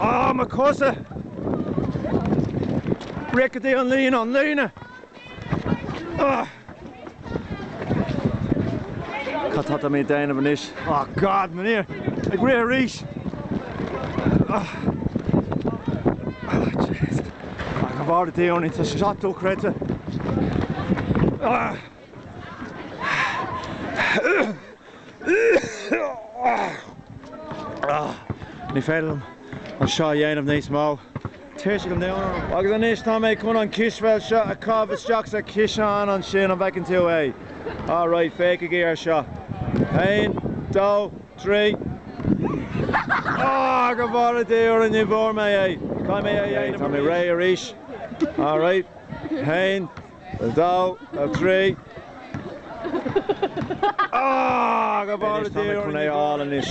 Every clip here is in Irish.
Ááá, mo chosa! Rith go dtí an líne, an líne! Ugh! Cad tá mé ag déanamh anois? Oh God, m'ainneoin! Ag rith arís! Ugh! Oh jeez! Ach an bharr a déarnaí, tá sé seo dochreidte! Ugh! Ní féidir liom é seo a dhéanamh níos mó. Tuirse go domhain orm. Agus anois tá mé chun an cispheil seo a chaitheamh isteach sa chiseán ansin, an bhfeiceann tú é? Alright, féachaigí air seo. Aon, dó, trí. Ááá, go bhfóire Dia orainn, ní bhfuair mé é! Caithfidh mé é a dhéanamh arís. Ok, tá mé réidh arís. Alright. Aon. a dó, a trí, a. Go bhfóire Dia orainn go léir anois.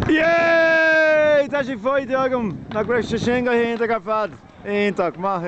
Yay! Tá sé faighte agam! Nach raibh sé sin go hiontach ar fad? Iontach. Maith thú.